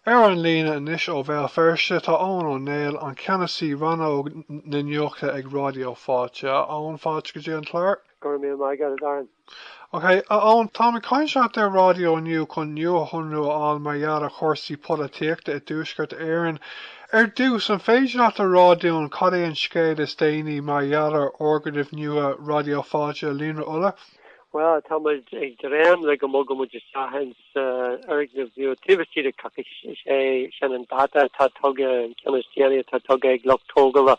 Ar an líne anois ó Bhéal Feirste tá Eoghan Ó Néill, Ceannasaí Rannóg na Nuachta ag Raidió Fáilte. A Eoghain, fáilte go dtí an clár. Go raibh míle maith agat, a Darren. Ok, a Eoghain, táim ag caint leat ar an raidió inniu chun nuashonrú a fháil mar gheall ar chúrsaí polaitíochta i dTuaisceart Éireann. Ar dtús, an féidir leat a rá dúinn cad é an scéal is déanaí mar gheall ar fhoirgneamh nua Raidió Fáilte, Líonra Uladh? Bhuel, tá muid ag dréim le go mbogfaimid isteach ins sa fhoirgneamh nua taobh istigh de choicís. Is é sin an dáta atá tugtha, an ceann is déanaí atá tugtha ag lucht tógála.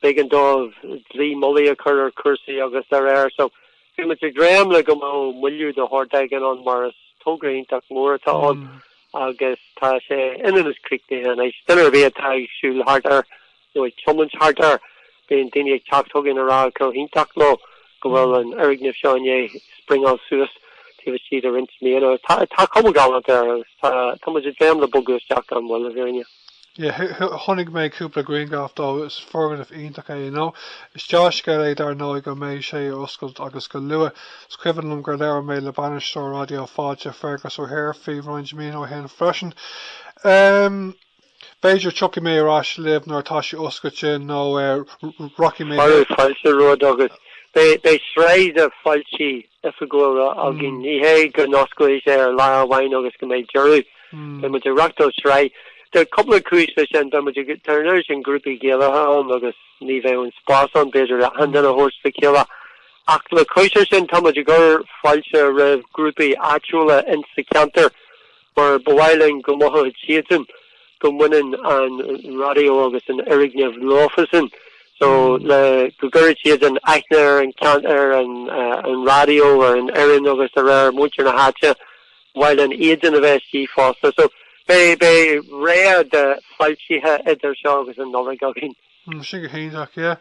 B'éigean dóibh dlaoi mhullaigh a chur ar chúrsaí agus dá réir, so, bhí muid ag dréim le go mbeadh moilliú de shórt éigin ann mar is togra iontach mór atá ann agus tá sé ionann is críochnaithe anois. Duine ar bith atá ag siúl thart air, nó ag tiomáint thart air, bíonn daoine ag teacht chugainn a rá chomh hiontach leo go bhfuil an foirgneamh seo i ndiaidh springáil suas taobh istigh de roinnt míonna. Tá cuma ghalánta air agus tá muid ag dréim le bogadh isteach gan mhoill, a Bhriain. Yeah, chonaic mé cúpla grianghraf de, is foirgneamh iontach é, you know. Is dea-scéal é dar ndóigh go mbeidh sé ag oscailt agus go luath. Is cuimhin liom gur labhair mé le bainisteoir Raidió Fáilte, Fergus O'Hare, faoi roinnt míonna ó shin freisin. B'fhéidir tiocfaidh mé ar ais libh nuair atá sé oscailte nó rachaidh mé chuig fáiltiú, rud agus beidh sraith de fáiltithe oifigiúla againn. Ní hé go n-osclóidh sé ar lá amháin agus go mbeidh deireadh. Beidh muid ag reachtáil sraith. Tá cúpla cúis leis sin. Beidh muid ag, tá an oiread sin grúpaí Gaelacha ann agus ní bheidh an spás ann b'fhéidir achan duine a thabhairt le chéile. Ach le cois sin tá muid ag cur fáilte roimh ghrúpaí áitiúla insa cheantar. mar ba mhaith linn go mothódh siadsan go mbaineann an raidió agus an foirgneamh leofasan so le go gcuirfidh siadsan aithne ar an ceantar, ar an raidió, ar an fhoireann agus de réir muintir na háite, ba mhaith linn iadsan a bheith istigh fosta. So beidh sraith de fáiltithe idir seo agus an Nollaig againn. Tá sé go hiontach, yeah.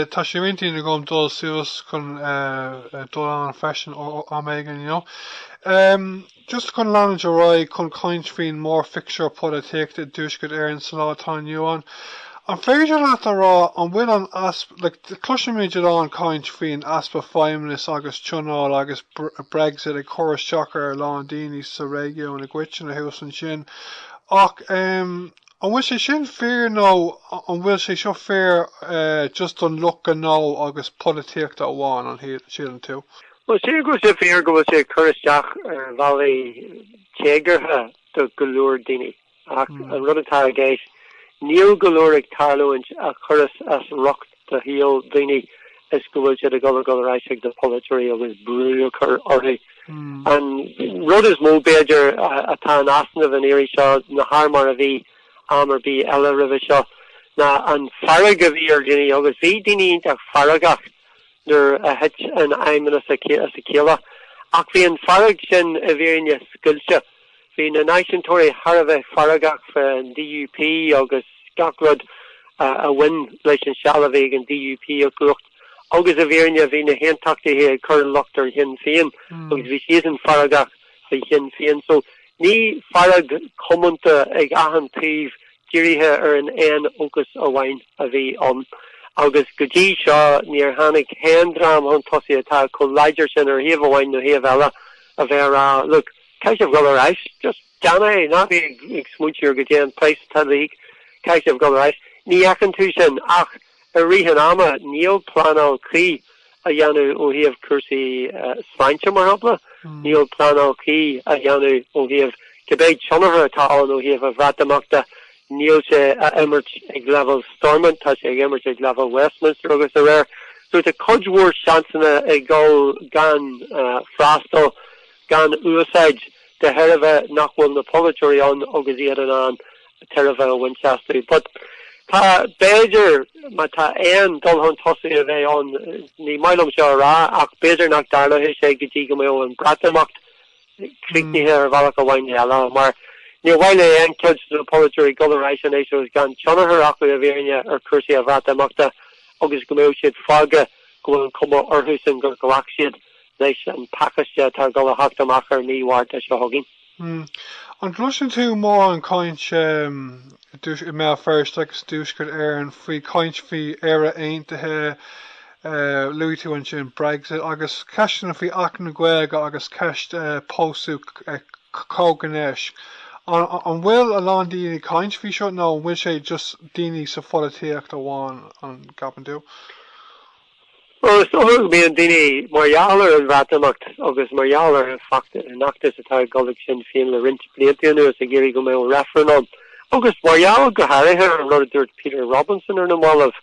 Tá sé ar intinn agam dul suas chun dul ann freisin am éigin, you know. Just chun leanúint ar aghaidh chun caint faoin mórphictiúr polaitíochta i dtuaisceart Éireann sa lá atá inniu ann. An féidir leat a rá an bhfuil an easpa, like, cloisimid a lán caint faoin easpa feidhmeannais agus tionóil agus Brexit ag cur isteach ar a lán daoine sa réigiún i gcoitinne thuas ansin ach, An bhfuil sé sin fíor nó an bhfuil sé seo fíor just don lucht gnó agus polaitíochta amháin, an síleann tú? Bhuel, sílim go bhfuil sé fíor go bhfuil sé ag cur isteach ar bhealaí éagsúla do go leor daoine ach an rud atá i gceist, níl go leor ag tarlúint a chuireas as riocht do shaol daoine is go bhfuil siad ag dul a dhul ar ais ag na polaiteoirí agus brú a chur orthu. An rud is mó b'fhéidir atá in easnamh an iarraidh seo ná thar mar a bhí am ar bith eile roimhe seo ná an fearg a bhí ar dhaoine agus bhí daoine iontach feargach nuair a thit an fheidhmeannas as a chéile ach bhí an fearg sin i bhfírinne scoilte Bhí na náisiúntóirí thar a bheith feargach fán DUP agus gach rud a bhain leis an seal a bhí ag an DUP i gcumhacht agus i bhfírinne bhí na haontachtaithe ag cur an locht ar Shinn Féin agus bhí siadsan feargach fá Shinn Féin. So ní fearg comónta ag achan taobh dírithe ar an aon fhócas amháin a bhí ann. Agus go dtí seo níor tháinig aon dream chun tosaigh atá chomh láidir sin ar thaobh amháin nó thaobh eile a bheith ag rá look, Caithfidh sibh dul ar ais. Just dean é. Ná bí ag smaointiú ar cad é an praghas atá le híoc. Caithfidh sibh dul ar ais. Ní fheiceann tú sin ach i rith an ama. Níl pleanáil cuí á dhéanamh ó thaobh cúrsaí sláinte, mar shampla. Níl pleanáil cuí á dhéanamh ó thaobh cibé tionchar atá ann ó thaobh an Bhreatimeachta. Níl sé á imirt ag leibhéal Stormont, tá sé á imirt ag leibhéal Westminster agus dá réir. So tá cuid mhór seansanna ag dul gan freastal. gan úsáid, de thairbhe nach bhfuil na polaiteoirí ann agus iad in ann tairbhe a bhaint astu. But tá, b'fhéidir, má tá aon dul chun tosaigh a bheith ann, ní maith liom seo a rá, ach b'fhéidir nach dtarlóidh sé go dtí go mbeadh an Breatimeacht críochnaithe ar bhealach amháin nó eile, mar níor mhaith le aon chuid de na polaiteoirí dul ar ais anois agus gan tionchar acu i bhfírinne ar chúrsaí an Bhreatimeachta agus go mbeadh siad fágtha go bhfuil an chuma orthusan gur ghlac siad leis an pacáiste atá ag dul a theacht amach ar mhí Mhárta seo chugainn. An gcloiseann tú mórán caint i mBéal Feirste agus i dTuaisceart Éireann faoi, caint faoi Éire Aontaithe, luaigh tú ansin Brexit, agus ceisteanna faoi Acht na Gaeilge agus ceist pósadh comhghnéis. An bhfuil a lán daoine ag caint faoi seo nó an bhfuil sé just daoine sa pholaitíocht amháin, an gceapann tú? Bhuel, is dócha go mbíonn daoine, mar gheall ar an Bhreatimeacht agus mar gheall ar an fheachtas atá ag dul ag Sinn Féin le roinnt blianta anuas, ag iarraidh go mbeadh reifreann ann. Agus mar gheall, go háirithe, ar an rud a dúirt Peter Robinson ar na mallaibh,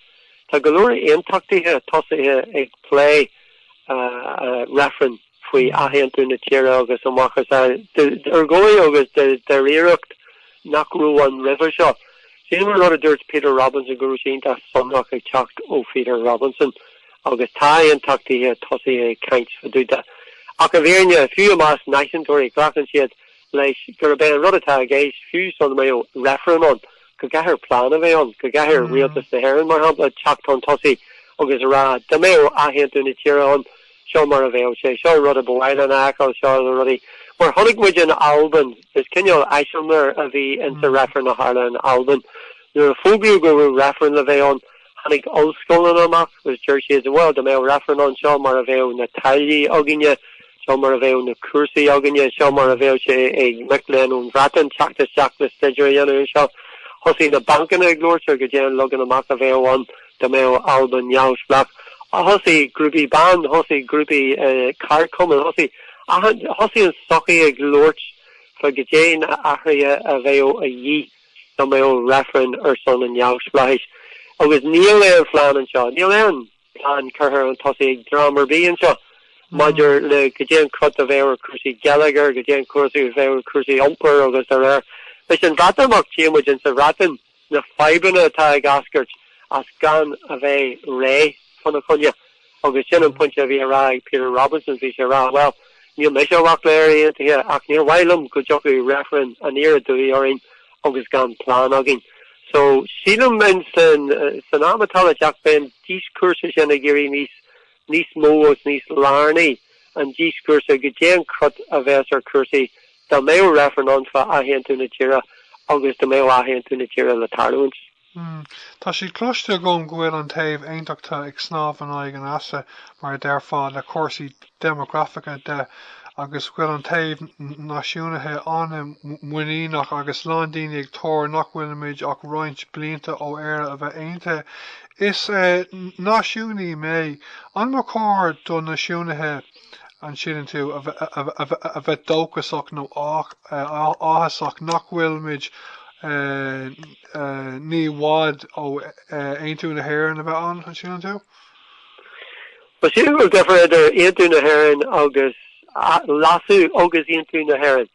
tá go leor aontachtaithe tosaithe ag plé reifrinn. faoi athaontú na tíre agus a mhacasamhail d'urgóiú agus de dháiríreacht nach raibh ann roimhe seo. Sílim an rud a dúirt Peter Robinson go raibh sé iontach sonrach ag teacht ó Pheter Robinson agus tá aontachtaithe tosaithe ag caint fá dtaobh de. Ach i bhfírinne, fiú i measc náisiúntóirí, glacann siad leis gurb é an rud atá i gceist, fiú sula mbeadh reifreann ann, go gcaithfear plean a bheith ann, go gcaithfear rialtas na hÉireann, mar shampla, teacht chun tosaigh agus a rá, dá mbeadh athaontú na tíre ann, Seo mar a bheadh sé. Seo an rud a ba mhaith linn a fheiceáil, seo na rudaí. Mar chonaic muid in Albain, is cineál eiseamlair a bhí insa reifreann a tharla in Albain. Nuair a fógraíodh go raibh reifreann le bheith ann, tháinig ollscoileanna amach agus deir siad, bhuel, dá mbeadh reifreann ann, seo mar a bheadh na táillí againne, seo mar a bheadh na cúrsaí againne, seo mar a bheadh sé ag mic léinn ón Bhreatain teacht isteach le staidéar a dhéanamh anseo. Thosaigh na bancanna ag labhairt ar goidé an leagan amach a bheadh ann. Dá mbeadh Albain neamhspleách, thosaigh grúpaí ban, thosaigh grúpaí ceardchumann, thosaigh an sochaí ag labhairt fá goidé na athruithe a bheadh a dhíth dá mbeadh reifreann ar son an neamhspleáchais. Agus níl aon phlean anseo, níl aon plean curtha chun tosaigh ag dream ar bith anseo maidir le goidé an cruth a bheadh ar cúrsaí geilleagair, goidé an cruth a bheadh ar cúrsaí iompair agus dá réir. Leis an Bhreatimeacht, tchíonn muid in sa Bhreatain, na fadhbanna atá ag eascairt as gan a bheith réidh fána choinne agus sin an pointe a bhí á rá ag Peter Robinson, bhí sé a rá bhuel níl mise i bhfách le Éire Aontaithe ach níor mhaith liom go dtiocfadh reifreann aniar aduaidh orainn agus gan plean againn. So sílim in san am atá le teacht beidh an díoscúrsa sin ag éirí níos níos mó agus níos lárnaí an díoscúrsa goidé an cruth a bheas ar chúrsaí dá mbeadh reifreann ann fá athaontú na tíre agus dá mbeadh athaontú na tíre le tarlúint. Hmm. Tá sé cloiste agam go bhfuil an taobh aontachta ag snámh in aghaidh an easa, mar a deirfeá, le cúrsaí déimeagrafacha de agus go bhfuil an taobh náisiúnaithe an-mhuiníneach agus lán daoine ag tuar nach bhfuilimid ach roinnt blianta ó Éire a bheith aontaithe Is náisiúnaí mé. An mba chóir do náisiúnaithe, an síleann tú, a bheith dóchasach nó áthasach nach bhfuilimid ní i bhfad ó aontú na hÉireann a bheith ann, an síleann tú? Bhuel, sílim go bhfuil difear idir aontú na hÉireann agus leasú agus aontú na hÉireann?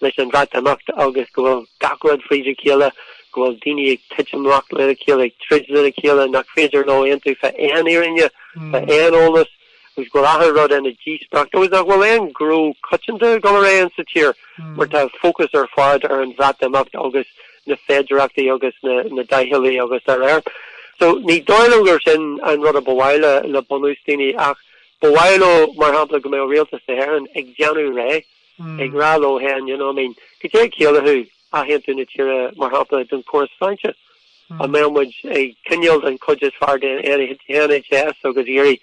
leis an Bhreatimeacht agus go bhfuil gach rud fríd a chéile, go bhfuil daoine ag titim amach lena chéile, ag troid lena chéile, nach féidir leo aontú fá aon fhírinne, fá aon eolas, agus go bhfuil achan rud ina dhíospóireacht, is nach bhfuil aon ghnó coitianta ag dul ar aghaidh sa tír mar tá an fócas ar fad ar an Bhreatimeacht agus na féidireachtaí agus na deadlines agus dá réir. So ní dóigh liom gur sin an rud a ba mhaith le le bunús daoine ach ba mhaith leo mar shampla go mbeadh Rialtas na hÉireann ag déanamh réidh Ag rá leo hé an ndéanann, I mean, cad é a chiallaíonn athaontú na tíre, mar shampla, don chóras sláinte? An mbeidh muid ag coinneáil an chuid is fearr den NHS agus araile,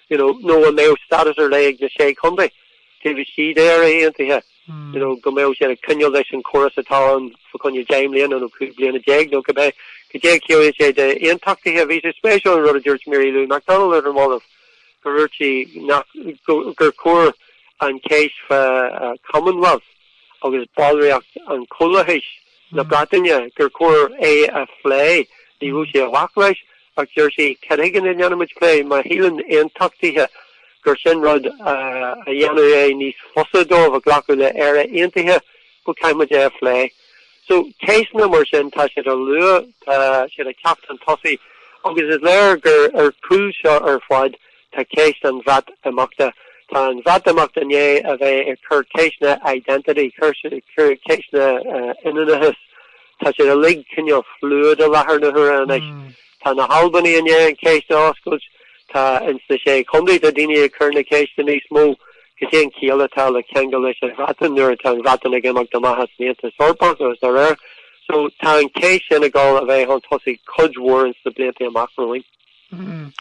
you know, nó an mbeidh stádas ar leith ag na sé chontae, taobh istigh de Éire Aontaithe, you know, go mbeadh siad ag coinneáil leis an chóras atá ann fa choinne deich mbliana nó cúig bliana déag nó cibé, cad é a chiallaíonn sé d'aontachtaithe? Bhí sé spéisiúil an rud a dúirt Mary Lou McDonald ar na mallaibh. Dúirt sí gur chóir an cheist fán Commonwealth agus ballraíocht i gComhlathas na Breataine, gur chóir é a phlé. Ní raibh sí i bhfách leis ach dúirt sí cad chuige nach ndéanaimid plé má shíleann aontachtaithe gur sin rud a dhéanfadh é níos fusa dóibh glacadh le Éire Aontaithe go gcaithfimid é a phlé. So ceisteanna mar sin tá siad á lua, tá siad ag teacht chun tosaigh agus is léir gur ar chúl seo ar fad tá ceist an Bhreatimeachta. Tá an Bhreatimeacht i ndiaidh a bheith ag cur ceisteanna identity, cur ceisteanna ionannachais. Tá siad uilig cineál fluid i láthair na huaire anois. Tá na hAlbanaigh i ndiaidh an cheist a oscailt. Tá ins na Sé Chontae tá daoine ag cur na ceiste níos mó, cad é an chiall atá le ceangal leis an Bhreatain nuair atá an Bhreatain ag imeacht amach as an Aontas Eorpach agus dá réir so tá an cheist sin ag dul a bheith chun tosaigh cuid mhór ins na blianta amach romhainn. Mm.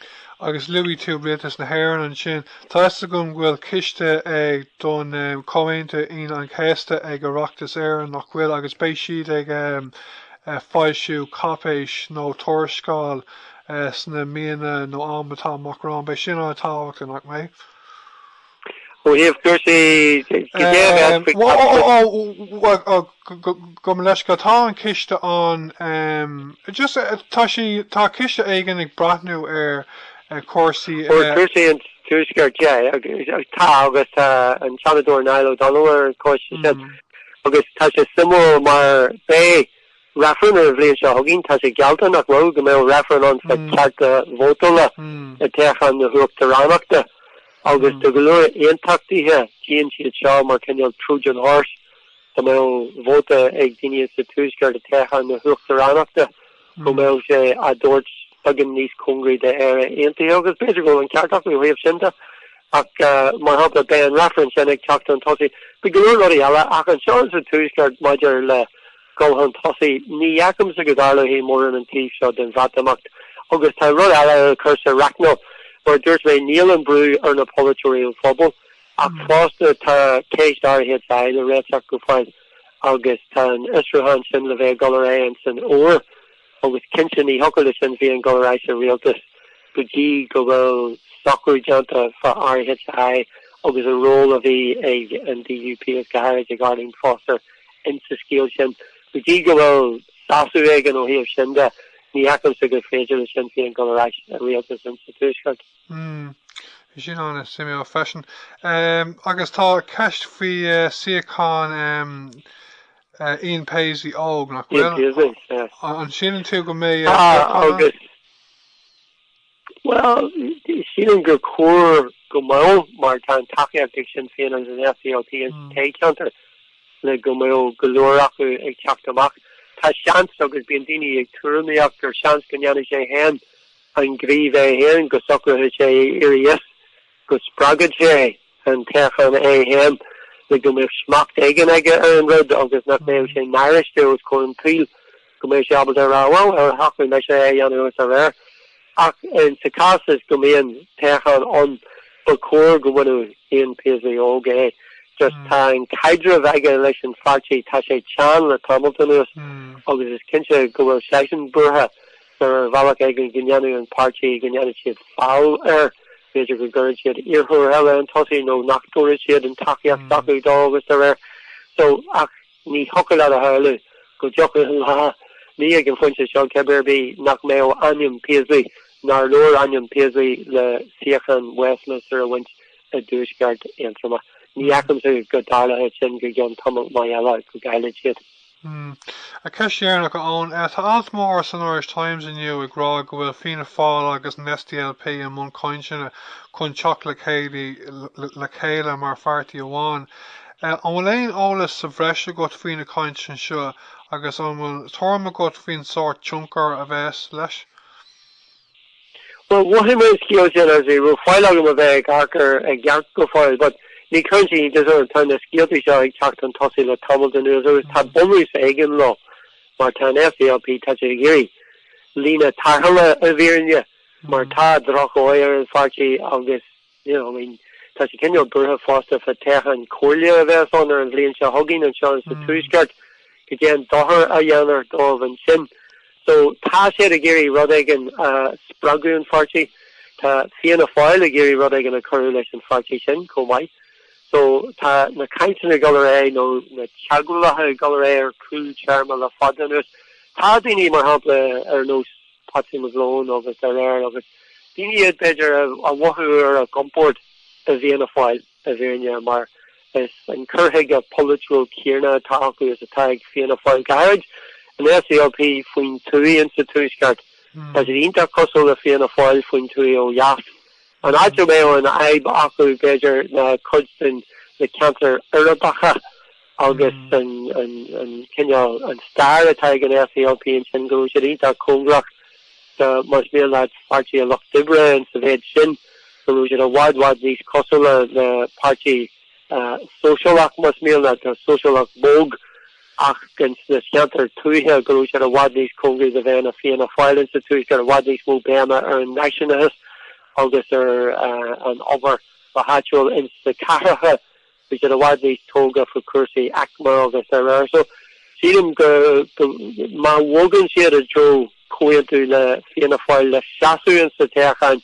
Agus luaigh tú Rialtas na hÉireann ansin. Tá 'fhios agam go bhfuil coiste ag don Chomhaontú Aoine an Chéasta ag Oireachtas Éireann, nach bhfuil, agus beidh siad ag, foilsiú cáipéis nó tuarascáil sna míonna nó am atá amach romhainn. Beidh sin ana tábhachtach, nach mbeidh? Ó thaobh cúrsaí Gabh mo leithscéal, tá an coiste ann. Just tá sé, tá coiste éigin ag breathnú ar chúrsaí. Ar chúrsaí an Tuaiscirt, yeah. Tá agus tá an Seanadóir Niall Ó Donnghaile ar an choiste sin. Agus tá sé suimiúil mar beidh reifreann an bhliain seo chugainn, tá sé geallta, nach bhfuil, go mbeadh reifreann ann faoi chearta vótála i dtoghchán na huachtaránachta. Agus do go leor aontachtaithe, tchíonn siad seo mar cineál Trojan Horse, go mbeadh vóta ag daoine sa Tuaisceart i dtoghchán na huachtaránachta. go mbeadh sé á dtabhairt beagán níos cóngaraí d'Éire Aontaithe agus b'fhéidir go bhfuil an ceart acu ó thaobh sin de ach, mar shampla, beidh an reifreann sin ag teacht chun tosaigh. Beidh go leor rudaí eile ach anseo sa Tuaisceart maidir le dhul chun tosaigh, ní fheicimse go dtarlóidh mórán an taobh seo den Bhreatimeacht agus tá rud eile le cur sa reicneáil, mar a dúirt mé, níl an brú ar na polaiteoirí ón phobal ach fosta tá ceist RHI le réiteach go fóill. agus tá an fhiosrúchán sin le bheith ag dul ar aghaidh san Fhómhar agus cinnte ní thiocfadh le Sinn Féin dul ar aghaidh sa rialtas go dtí go bhfuil socrú déanta fá RHI agus an ról a bhí ag an DUP is go háirid ag Arlene Foster ins sa scéal sin. Go dtí go bhfuil sásamh éigin ó thaobh sin de ní fheicimse gur féidir le Sinn Féin dul ar aghaidh i rialtas ins sa Tuaisceart. Mmm. Sin an-suimiúil freisin. Em agus tá ceist faoi suíochán em Ian Paisley óg, nach bhfuil? Ian Paisley, yeah. An síleann tú go mbeidh eh Ah, toghchán ann? agus, bhuel, sílim gur chóir go mbeadh mar tá an tacaíocht ag Sinn Féin agus an SDLP Mm. sa toghcheantar le go mbeadh go leor acu ag teacht amach. Tá seans agus bíonn daoine ag tuairimíocht gur seans go ndéanfaidh sé fhéin an gníomh é fhéin, go socróidh sé éirí as go spreagfaidh sé an toghchán é féin le go mbeadh smacht éigin aige ar an rud agus nach mbeadh sé náiriste os comhair an tsaoil go mbeadh sé ábalta rá bhuel gur shocraigh mise é a dhéanamh agus dá réir. Ach in sa cás is go mbíonn toghchán ann ba chóir go mbainfeadh Ian Paisley óg é just tá an caidreamh aige leis an pháirtí tá sé teann le tamalt anuas agus is cinnte go bhfuil seisean buartha ar bhealach éigin go ndéanfaidh an páirtí go ndéanfaidh siad feall air. B'fhéidir go gcuirfidh siad iarrthóir eile chun tosaigh nó nach dtabharfaidh siad an tacaíocht s'acu dó agus dá réir so ach ní thiocfadh leat a shamhlú go dtiocfadh an lá, ní ag an phointe seo cibé ar bith, nach mbeadh ainm Paisley, nár leor ainm Paisley le suíochán Westminster a bhaint i dTuaisceart Aontroma. Ní fheicimse go dtarlóidh sin go gceann tamall maith eile go gcaillfidh siad. An cheist dheireanach, a Eoin, tá alt mór san Irish Times inniu ag rá go bhfuil Fianna Fáil agus an SDLP i mbun cainteanna chun teacht le chéile le chéile mar pháirtí amháin. An bhfuil aon eolas sa bhreis agat faoi na cainteanna seo agus an bhfuil tuairim agat faoin sórt tionchair a bheas leis? Bhuel, mhothaigh mé an scéal sin agus ní raibh faill agam a bheith ag amharc air i gceart go fóill but ní chuireann sé iontas orm, tá na scéalta seo ag teacht chun tosaigh le tamall anuas agus tá bunús éigin leo mar tá an SDLP, tá siad ag iarraidh líne tarrthála i bhfírinne mar tá drochdhóigh ar an pháirtí agus. I mean, tá sé cineál buartha fosta fá thoghchán comhairle a bheas ann ar an bhliain seo chugainn anseo sa Tuaisceart, cad é an dochar a dhéanfar dóibh ansin. So tá siad ag iarraidh rud éigin a spreagfadh an pháirtí. Tá Fianna Fáil ag iarraidh rud éigin a chuirfeadh leis an pháirtí sin chomh maith. So tá na cainteanna ag dul ar aghaidh nó na teagmhálacha ag dul ar aghaidh ar chúl téarma le fada anuas. Tá daoine, mar shampla, ar nós, Patsy McGlone agus araile agus daoine iad b'fhéidir a mhothódh ar a gcompord i bhFianna Fáil i bhfírinne mar is an cur chuige polaitiúil céanna atá acu is atá ag Fianna Fáil go háirid an SDLP faoin tuaith ins an tuaisceart, tá siad iontach cosúil le Fianna Fáil faoin tuaith ó dheas. An áit a mbeadh an fhadhb acu b'fhéidir ná cuid de na ceantair uirbeacha agus an cineál, an stair atá ag an SDLP ansin, go bhfuil siad iontach cóngarach do más mian leat Pháirtí an Lucht Oibre ins an mhéid sin, go bhfuil siad i bhfad bhfad níos cosúla le páirtí sóisialach más mian leat, tá sóisialach bog ach ins na ceantair tuaithe go bhfuil siad i bhfad níos cóngaraí do bheith ina Fianna Fáil ins an tuaisceart, i bhfad níos mó béime ar an náisiúnachas agus ar an obair go háitiúil ins na cathracha Bhí siad i bhfad níos tógtha faoi chúrsaí aicme agus araile so sílim go má bhogann siad i dtreo comhaontú le Fianna Fáil le seasamh ins na toghcháin,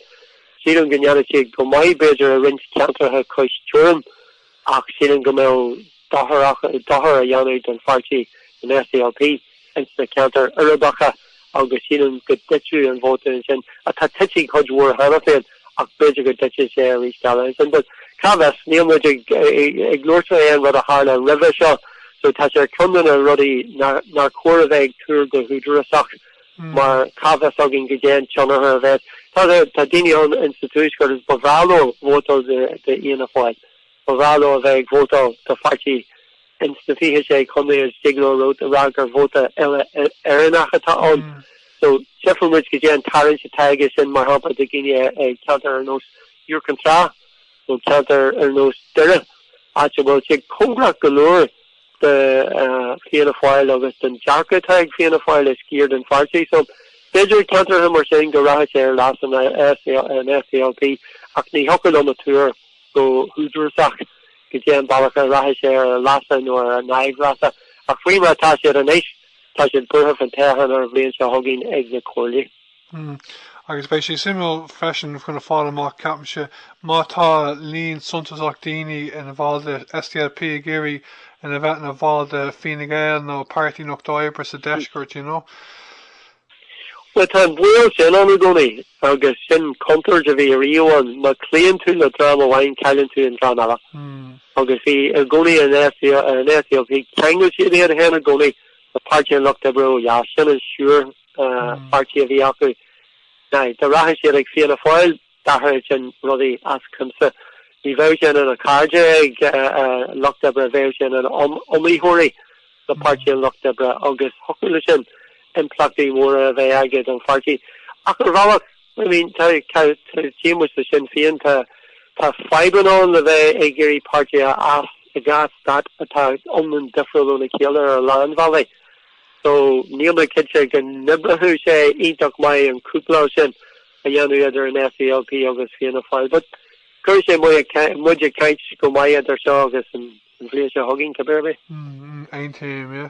sílim go ndéanfaidh siad go maith b'fhéidir i roinnt ceantracha cois teorann ach sílim go mbeadh dochar á dhéanamh don pháirtí, don SDLP. ins na ceantair uirbeacha agus sílim go dtitfeadh an vóta ansin, atá tite cuid mhór cheana féin ach b'fhéidir go dtitfidh sé arís eile ansin but cá bhfios, níl muid ag ag labhairt faoi aon rud a tharla roimhe seo so tá sé ar cheann de na rudaí nár chóir a bheith ag tuar go húdarasach mar cá bhfios againn cad é an tionchar a bheas, tá daoine ann ins an tuaisceart agus ba bhreá leo vótáil do Fhianna Fáil ba bhreá leo a bheith ag vótáil do pháirtí ins na fiche sé chontae is thig leo rud a rá gur vóta uile Éireannach atá ann so tchífidh muid cad é an tarraingt atá aige sin mar shampla do dhaoine i ceantair ar nós Iúr Cinn Trá nó ceantair ar nós Doire áit a bhfuil sé cóngarach go leor do Fianna Fáil agus don dearcadh atá ag Fianna Fáil i sciar den pháirtí so b'fhéidir ceantracha mar sin go rachadh sé ar leas an SDLP ach ní thiocfadh liom a tuar go húdarásach cad é an bealach a rachaidh sé ar a leasa nó ar a n-aimhleasa, ach faoi mar atá siad anois, tá siad buartha faoin toghchán ar an bhliain seo chugainn ag na comhairlí. Hmm. Agus beidh sé suimiúil freisin chun a fáil amach, ceapaimse, má tá líon suntasach daoine ina bhall de SDLP ag iarraidh a bheith ina bhall de Fine Gael nó Páirtí an Lucht Oibre sa deisceart, you know. Bhuel, tá an baol sin ann i gcónaí agus sin contúirt a bhí ariamh ann, má chloíonn tú le dream amháin cailleann tú an dream eile agus bhí i gcónaí an SDLP, cheangail siad iad féin i gcónaí le Páirtí an Lucht Oibre ó dheas, sin an siúr-pháirtí a bhí acu. Now, dá rachadh siad ag Fianna Fáil. D'athródh sin rudaí as cuimse. Ní bheadh sé ina cairde ag lucht oibre, bheadh sé ina iomaitheoirí le páirtí an lucht oibre agus thiocfadh leis sin impleachtaí móra a bheith aige don pháirtí. Ach ar bhealach, I mean, tá, tá, tchí muid le Sinn Féin, tá, tá fadhbanna ann le bheith ag iarraidh páirtí a fhás i dhá stát atá iomlán difriúil óna chéile ar a lán bhealaí. So, níl mé cinnte go n-oibreodh sé iontach maith an cúpláil sin. a dhéanamh idir an SDLP agus Fianna Fáil. But cuirfidh sé muid ag caint go maith idir seo agus an bhliain seo chugainn, cibé ar bith. Aontaím, yeah.